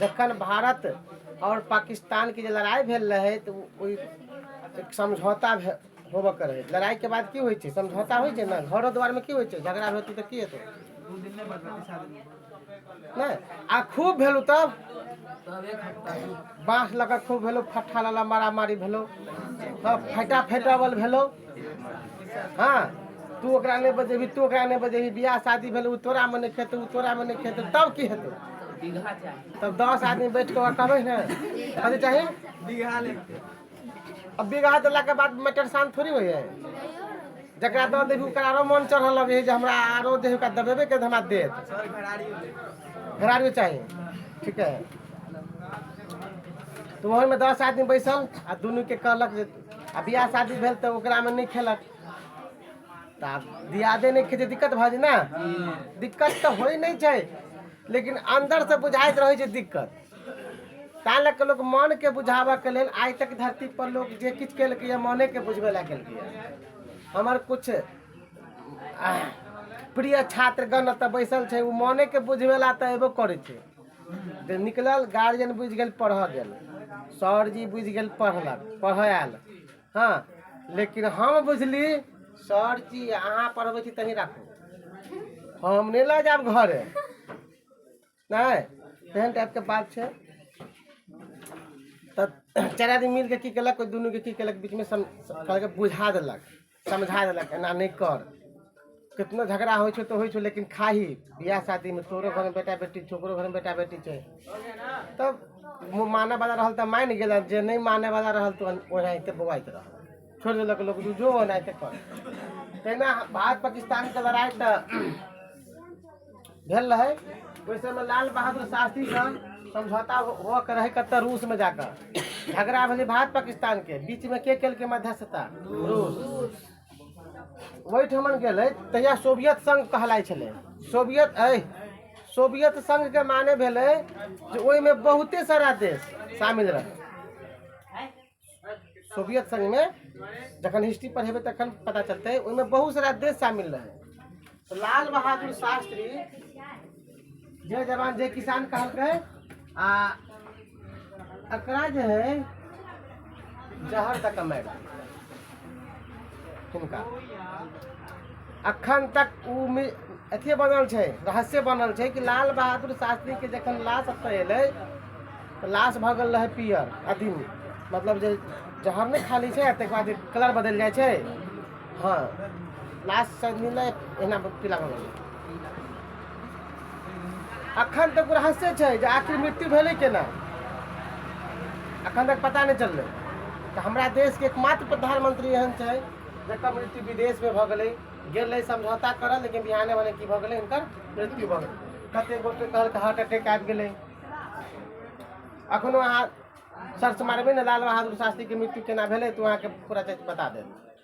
जखन भारत आओर पाकिस्तानके जे लड़ाइ भेल रहै तऽ ओहि एक समझौता भे होबऽके रहै लड़ाइके बाद की होइ छै समझौता होइ छै ने घरो दुआरिमे की होइ छै झगड़ा हेतौ तऽ की हेतौ नहि आ खूब भेलहुँ तब बाँस लऽ कऽ खूब भेलहुँ फट्ठा लऽ लऽ मारामारी भेलहुँ हँ फाइटा फाइटोबल भेलहुँ हँ तू ओकरा नहि बजेबही तू ओकरा नहि बजेबही बियाह शादी भेलै ओ तोरामे नहि खेतै ओ तोरामे नहि खेतै तब की हेतै तब दस आदमी बैठ कऽ ओकरा कहबै ने कथी चाही अब बिगहा देला के बाद मैटर शांत थोड़ी होइए जकरा दऽ देबही ओकरा आरो मन चढ़ऽ लगे जे हमरा आरो देह ओकरा दबेबे के हमरा देत घरारियो चाही ठीक है तो वही में दस आदमी बैसल आ दुनू के कहलक जे आ बियाह शादी भेल तऽ ओकरामे नहि खेलक तऽ आब दियादे नहि खेतै दिक्कत भऽ जेतै ने दिक्कत तऽ होइ नहि छै लेकिन अन्दरसँ बुझाइत रहै छै दिक्कत तैँ लऽ कऽ लोक मनके बुझाबऽके लेल आइ तक धरती पर लोक जे किछु केलकैए मनेके बुझबै लए केलकैए हमर किछु प्रिय छात्रगण एतऽ बैसल छै ओ मनेके बुझबै लए तऽ अयबो करै छै जे निकलल गार्जियन बुझि गेल पढ़ऽ गेल सरजी बुझि गेल पढ़लक पढ़ऽ आयल हँ लेकिन हम बुझली सरजी अहाँ पढ़बै छी तही राखू हम नहि लऽ जायब घरे नहि तेहन टाइपके बात छै तऽ चारि आदमी मिलि कऽ की केलक कोइ दुनूके की केलक बीचमे सम कहलकै बुझा देलक समझा देलक एना नहि कर कितनो झगड़ा होइ छौ तऽ होइ छौ लेकिन खाही बियाह शादीमे तोरो घरमे बेटा बेटी छै ओकरो घरमे बेटा बेटी छै तब मु- मानऽ वाला रहल तऽ मानि गेल जे नहि मानऽ वाला रहल तऽ ओनाहिते बौआइत रह छोड़ि देलक लोक जो ओनाहिते कर तहिना भारत पाकिस्तानके लड़ाइ तऽ भेल रहै ओहि समय लाल बहादुर शास्त्रीसँ समझौता होके रहै कतऽ रूसमे जाकऽ झगड़ा भेलै भारत पाकिस्तानके बीचमे के केलकै मध्यस्थता रूस ओहिठमन गेलै तहिया सोवियत संघ कहलाइ छलै सोवियत अइ सोवियत संघके माने भेलै जे ओहिमे बहुते सारा देश शामिल रहै सोवियत संघ में जखन हिस्ट्री पढ़ेबे तखन पता चलते ओहिमे बहुत सारा देश शामिल रहे लाल बहादुर शास्त्री जय जवान जय किसान कहलकै आ एकरा जे है जहर तक मैडम किनका अखन तक ओ अथिए बनल छै रहस्य बनल छै कि लाल बहादुर शास्त्रीके जखन लाश एतऽ एलै तऽ लाश भऽ गेल रहै पियर अदिन मतलब जे जहर नहि खाली छै ताहिके बाद कलर बदलि जाइ छै हँ लाश शायद मिललै एना पीला भऽ गेलै अखन तक रहस्य छै जे आखिर मृत्यु भेलै केना अखन तक पता नहि चललै तऽ हमरा देशके एकमात्र प्रधानमंत्री एहन छै जकर मृत्यु विदेशमे भऽ गेलै गेल रहै समझौता करऽ लेकिन बिहाने भने की भऽ गेलै हिनकर मृत्यु भऽ गेलै कते गोटे कहलकै हार्ट अटैक आबि गेलै अखनो अहाँ सर्च मारबै ने लाल बहादुर शास्त्रीके मृत्यु केना भेलै तऽ अहाँके पूरा चीज बता देत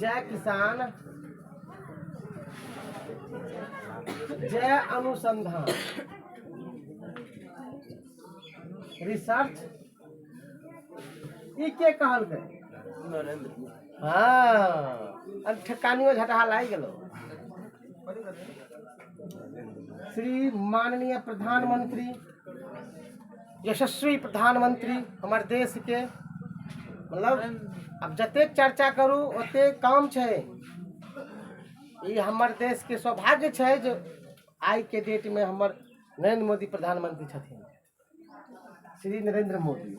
जय किसान जय अनुसंधान रिसर्च ई के कहलकै नरेंद्र हँ ठकानियो झटहा लागि गेलौ श्री माननीय प्रधानमंत्री यशस्वी प्रधानमंत्री हमर देशके मतलब आब जतेक चर्चा करू ओतेक कम छै ई हमर देशके सौभाग्य छै जे आइके डेटमे हमर नरेंद्र मोदी प्रधानमंत्री छथिन श्री नरेंद्र मोदी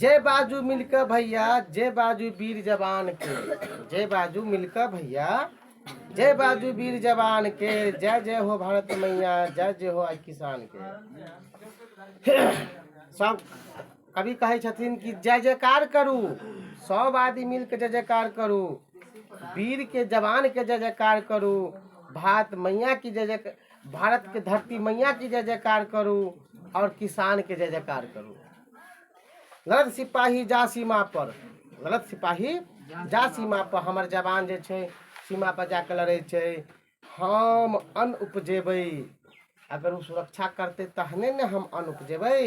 जय बाजू मिलके भैया जय बाजू वीर जवान के जय बाजू मिलके भैया जय बाजू वीर जवान के जय जय हो भारत मैया जय जय हो आइ किसान के सब कभी कहै छथिन कि जय जयकार करू सब आदमी मिलके जय जयकार करू वीर के जवान के जय जयकार करू भारत मैया की जय जय भारत के धरती मैया की जय जयकार करू और किसान के जय जयकार करू गलत सिपाही जा सीमा पर गलत सिपाही जा सीमा पर हमर जवान जे छै सीमा पर जाके लड़े छै हम अन्न उपजेबै अगर ओ सुरक्षा करतै तहने ने हम अन्न उपजेबै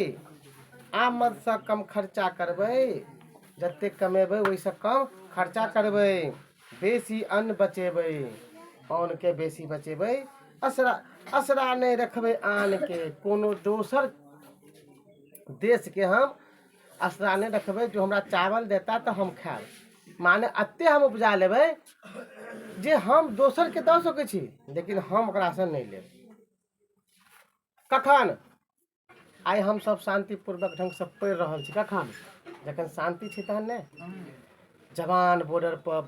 आमदसँ कम खर्चा करबै जतेक कमेबै ओहिसँ कम खर्चा करबै बेसी अन्न बचेबै अन्नके बेसी बचेबै असरा असरा नहि रखबै आनके कोनो दोसर देशके हम असरा नहि रखबै जे हमरा चावल देता तऽ हम खायब माने एतेक हम उपजा लेबै जे हम दोसरके दऽ सकै छी लेकिन हम ओकरासँ नहि लेब कखन आइ हमसभ शान्तिपूर्वक ढङ्गसँ पढ़ि रहल छी कखन जखन शान्ति छै तहन ने जवान बॉर्डरपर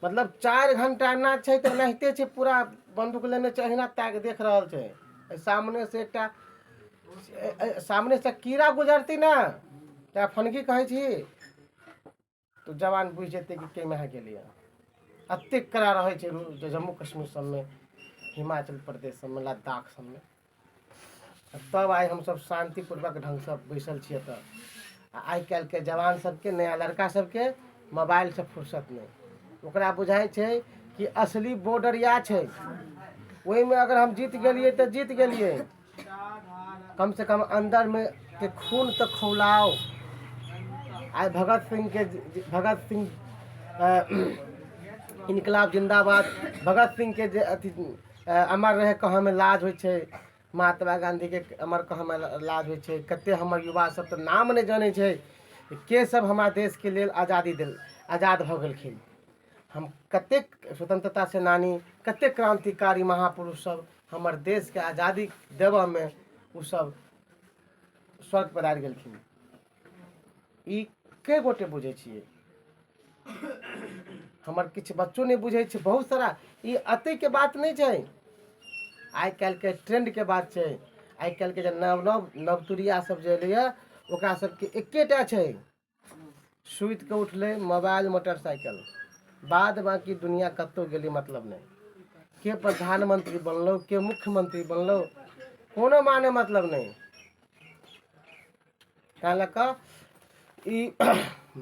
मतलब चारि घंटा ना छै तऽ नहिते छै पूरा बन्दूक लेने छै अहिना ताकि देख रहल छै सामनेसँ एकटा सामने से कीड़ा गुजरती ना चाहे फनगी कहै छी तो जवान बुझ जेतै कि के महा गेलै एतेक कड़ा रहै छै जम्मू कश्मीर सबमे हिमाचल प्रदेश सबमे लद्दाख सबमे तब आइ हमसब शान्तिपूर्वक ढङ्गसँ बैसल छियै एतऽ आ आइ काल्हिके जवान सबके नया लड़का सबके मोबाइलसँ फुर्सत नहि ओकरा बुझाइ छै कि असली बॉर्डर इएह छै ओहिमे अगर हम जीत गेलियै तऽ जीत गेलियै कम से कम अंदर में के खून तो खौलाओ आज भगत सिंह के भगत सिंह अ, इनकलाब जिंदाबाद भगत सिंह के जे अथी अ, अमर रहे कहाँ में लाज होइ छै महात्मा गांधी के अमर कहाँ में लाज होइ छै कते हमर युवा सब तऽ नाम नहि जानै छै के सब हमरा देश के लेल आजादी देल आजाद भऽ गेलखिन हम कतेक स्वतन्त्रता सेनानी कतेक क्रान्तिकारी महापुरुष सब हमर देशके आजादी देबऽमे ओ सब स्वर्ग पधारि गेलखिन ई कए गोटे बुझै छियै हमर किछु बच्चो नहि बुझै छै बहुत सारा ई अतैके बात नहि छै आइ काल्हिके ट्रेंडके बात छै आइ काल्हिके जे नव नव नवतुरिया सब जे एलैया ओकरा सबके एकेटा छै सुति कऽ उठलै मोबाइल मोटरसाइकिल बाद बाँकी दुनिया कतहु गेली मतलब नहि के प्रधानमंत्री बनलो के मुख्यमंत्री बनलो कोनो माने मतलब नहि तैँ लऽ कऽ ई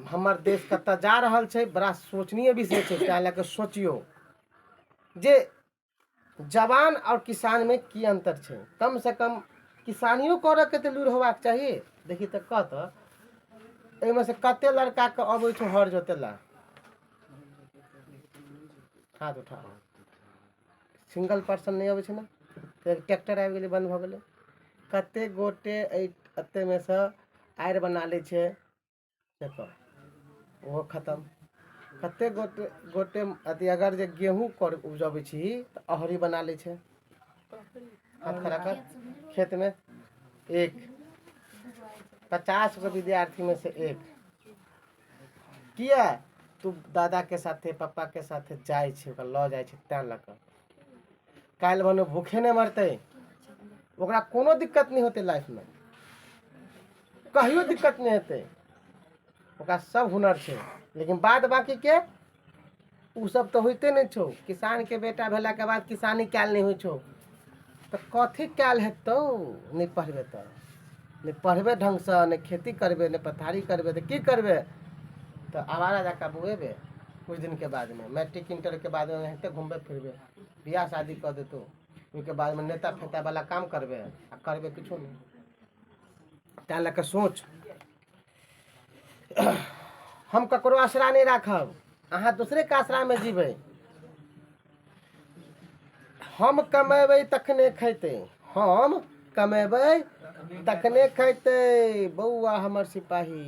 हमर देश कतऽ जा रहल छै बड़ा सोचनीय विषय छै तैँ लऽ कऽ सोचियौ जे जवान आओर किसानमे की अन्तर छै कमसँ कम किसानियो करयके तऽ लूरि होयबाक चाही देखी तऽ कह तऽ एहिमे से कते लड़काके अबै छै हर जोते ला हाथ उठा सिंगल पर्सन नहि अबै छै ने फेर ट्रैक्टर आबि गेलै बन्द भऽ गेलै कते गोटे एहि एतेमे सँ आड़ि बना लै छै पर ओहो खतम कतेक गोटे गोटे अथी अगर जे गेहूँ कर उपजबै छी तऽ अहरी बना लै छै हाथ खड़ा कर खेतमे एक पचास गो विद्यार्थीमे से एक किया तू दादाके साथे पप्पाके साथे जाइ छै ओकरा लऽ जाइ छै तैँ लऽ कऽ काल्हि भने भूखे नहि मरतै ओकरा कोनो दिक्कत नहि होतै लाइफमे कहियो दिक्कत नहि हेतै ओकरा सब हुनर छै लेकिन बाद बाकीके ओ सब तऽ होइते नहि छौ किसानके बेटा भेलाके बाद किसानी कयल नहि होइ छौ तऽ कथी कयल हेतौ नहि पढ़बै तऽ नहि पढ़बै ढङ्गसँ नहि खेती करबै नहि पथारी करबै तऽ की करबै तऽ आवारा जकाँ बौएबै किछु दिनके बादमे मैट्रिक इंटरके बादमे एनाहिते घुमबै फिरबै बियाह शादी कऽ देतौ ओहिके बादमे नेता फेतावला काम करबै आ करबै किछो नहि तैँ लऽ कऽ सोच हम ककरो आसरा नहि राखब अहाँ दोसरेके आसरामे जीबै हम कमेबै तखने खैतै हम कमेबै तखने खैतै बौआ हमर सिपाही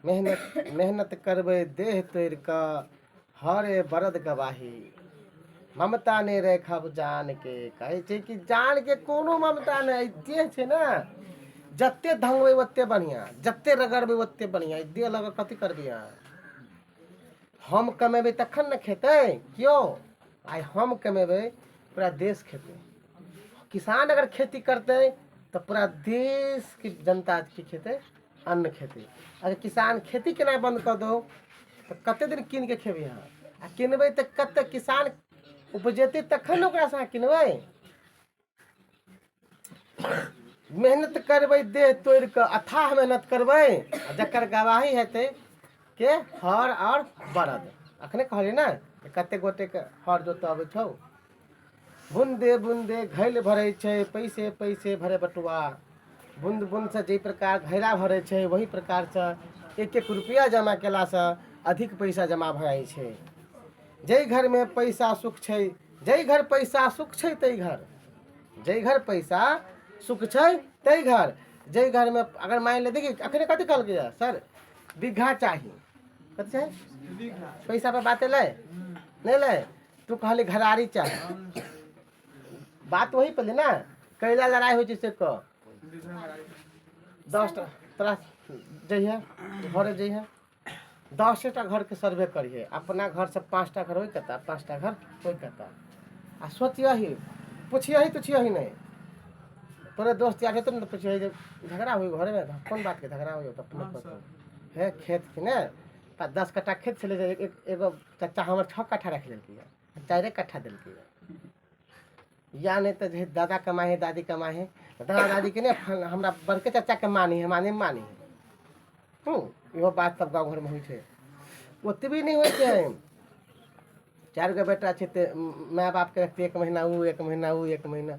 मेहनत मेहनत करबै देह तोड़ि कऽ हँ रे बरद गवाही ममता नहि राखब जानके कहै छै कि जानके कोनो ममता नहि देह छै ने जते धंगबै ओते बढ़िआँ जते रगड़बै ओते बढ़िआँ देह लऽ कऽ कथी करबै अहाँ हम कमेबै तखन ने खेतै केओ आइ हम कमेबै पूरा देश खेतै किसान अगर खेती करतै तऽ पूरा देशके जनता की खेतै अन्न खेती अगर किसान खेती केनाइ बन्द कऽ दौ तऽ कतेक दिन कीनि कऽ खेबै अहाँ आ किनबै तऽ कतेक किसान उपजेतै तखन ने ओकरासँ अहाँ किनबै मेहनत करबै देह तोड़ि कऽ अथाह मेहनत करबै आ जकर गवाही हेतै के हर आओर बरद अखने कहलियै ने कतेक गोटेके हर जोतय अबै छौ बुन्दे बुन्दे घैल भरै छै पैसे पैसे भरे बटुआ बुन्द बुन्दसँ जाहि प्रकार घैला भरै छै ओहि प्रकारसँ एक एक रुपैआ जमा कयलासँ अधिक पैसा जमा भऽ जाइ छै जाहि घरमे पैसा सुख छै जाहि घर पैसा सुख छै ताहि घर जाहि घर पैसा सुख छै ताहि घर जाहि घरमे अगर मानि ले देखिए अखने कथी कहलकैए सर बीघा चाही कथी छै पैसापर बात एलै नहि एलै तू कहले घरारी चाह बात वही पहले ना कैला लड़ाई हो जैसे क दस टा तोरा जइहे घरे जइहे दसे टा घर के सर्वे करिहे अपना घर से पाँच टा घर होई कता पाँच टा घर होई कता आ सोचियही पूछियही तुछियही नहीं तोरे दोस्त यार तो न पूछियही जे झगड़ा हुई घरे में त कौन बात के झगड़ा हुई तो अपने को है खेत के ने पा- दस कट्ठा खेत छलै जे एक- एक- एगो चाचा हमर छओ कट्ठा राखि लेलकै यऽ चारिए कट्ठा देलकै यऽ या नहि तऽ जे दादा कमाइ हइ दादी कमाइ हइ तऽ दादा दादीके ने फल- हमरा बड़के चाचाके मानी हइ हमरा नहि मानी हइ हूँ इहो बात सब गाँव घरमे होइ छै ओतबी नहि होइ छै चारि गो बेटा छै तऽ माय बापके रखतै एक महीना ओ एक महीना ओ एक महीना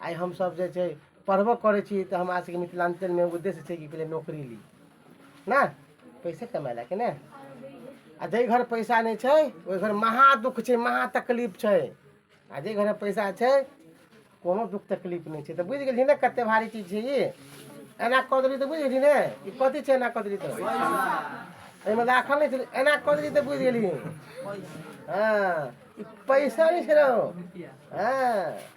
आइ हमसभ जे छै पढ़बो करै छी तऽ हमरा सभके मिथिलाञ्चलमे उद्देश्य छै कि पहिले नौकरी ली ने पैसे कमाइ लए कि ने आ जाहि घर पैसा नहि छै ओहि घर महा दुःख छै महा तकलीफ छै आ जाहि घरमे पैसा छै कोनो दुःख तकलीफ नहि छै तऽ बुझि गेलियै ने कतेक भारी चीज छै ई एना कऽ देली तऽ बुझि गेली ने ई कथी छै एना कऽ देली तऽ एहिमे राखल नहि छै एना कऽ देली तऽ बुझि गेली हँ ई पैसा नहि छै रौ हँ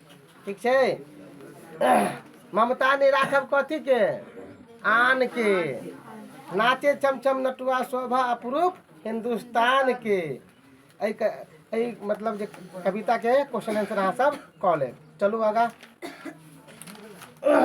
ठीक छै ममता नहि राखब कथीके आनके नाचे चमचम नटुआ शोभा अप्रूप हिन्दुस्तानके एहिके एहि मतलब जे कविताके क्वेश्चन आंसर अहाँ सब कऽ लेब चलू आगाँ